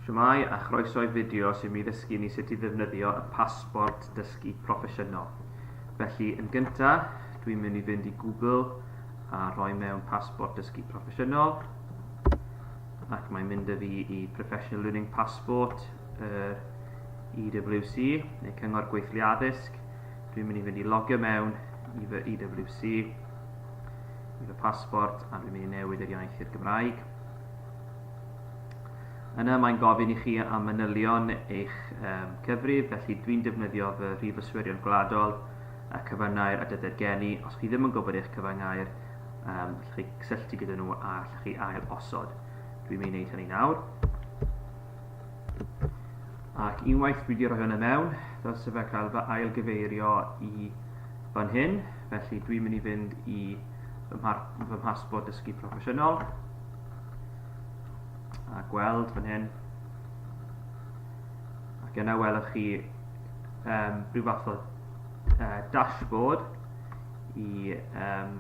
Shwmae a chroeso i fideo sy'n mi ddysgu ni sut i ddefnyddio y pasbort dysgu proffesiynol. Felly yn gynta, dwi'n mynd i fynd i Google a rhoi mewn pasbort dysgu proffesiynol ac mae'n mynd â fi i Professional Learning Passport yr EWC neu Cyngor Gweithlu Addysg. Dwi'n mynd i fynd i logio mewn i fy EWC, i fy pasbort a dwi'n mynd i newid yr iaith i'r Gymraeg. Yna mae'n gofyn i chi am manylion eich um, cyfrif, felly dwi'n defnyddio fy rhif yswirion gwladol a cyfyngau'r a dyder gen i. Os chi ddim yn gwybod eich cyfyngau'r, um, allwch chi cysylltu gyda nhw a allwch chi ail osod. Dwi'n mynd i wneud hynny nawr. Ac unwaith dwi wedi rhoi hwnna mewn, dylse fe cael fy ail gyfeirio i fan hyn, felly dwi'n mynd i fynd i fy mhasbort dysgu proffesiynol, a gweld fan hyn ac yna welwch chi um, rhyw fath o uh, dashboard i um,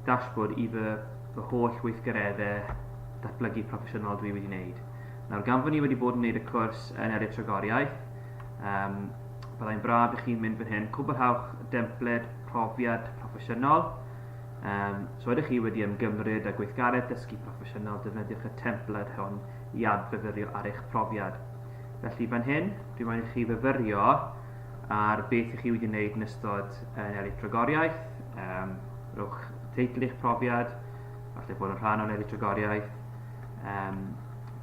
dashboard i fy, fy holl weithgareddau datblygu proffesiynol dwi wedi wneud. Nawr, gan fod ni wedi bod yn wneud y cwrs yn Eryr Tragoriaeth, um, byddai'n braf i chi mynd fan hyn, cwblhawch dempled profiad proffesiynol, Yym, os so ydych chi wedi ymgymryd â gweithgaredd dysgu proffesiynol, defnyddiwch y templed hwn i adfyfyrio ar eich profiad. Felly fan hyn, dwi'n moyn i chi fyfyrio ar beth ych chi wedi wneud yn ystod yn eritrogoriaeth, um, rhowch teitl i'ch profiad, falle bod yn rhan o'n eritrogoriaeth, um,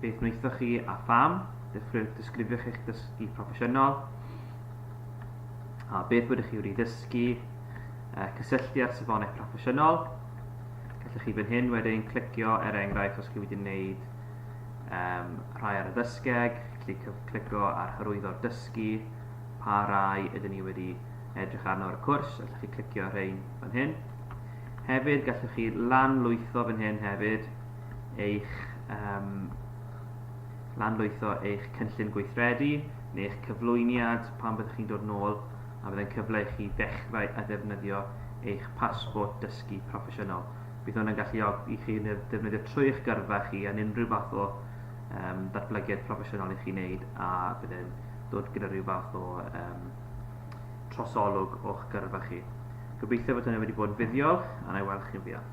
beth wnaethoch chi a pham, disgrifiwch eich dysgu proffesiynol, a beth ydych chi wedi ddysgu, a cysylltu â'r safonau proffesiynol. Gallwch chi fan hyn wedyn clicio er enghraifft os chi wedi wneud um, rhai ar y ddysgeg, chi gallu clicio ar hyrwyddo'r dysgu, pa rai ydyn ni wedi edrych arno ar y cwrs, allwch chi clicio ar rhain fan hyn. Hefyd gallwch chi lanlwytho fan hyn hefyd eich um, lanlwytho eich cynllun gweithredu neu eich cyflwyniad pan byddwch chi'n dod nôl a fyddai'n cyfle i chi ddechrau â ddefnyddio eich Pasbort Dysgu Proffesiynol. Bydd hwn yn galluogi i chi ddefnyddio trwy eich gyrfa chi yn unrhyw fath o um, datblygiad proffesiynol i chi wneud a bydd e'n dod gyda rhyw fath o um, trosolwg o'ch gyrfa chi. Gobeithio bod hynny wedi bod yn fuddiol a na i weld chi'n fuan.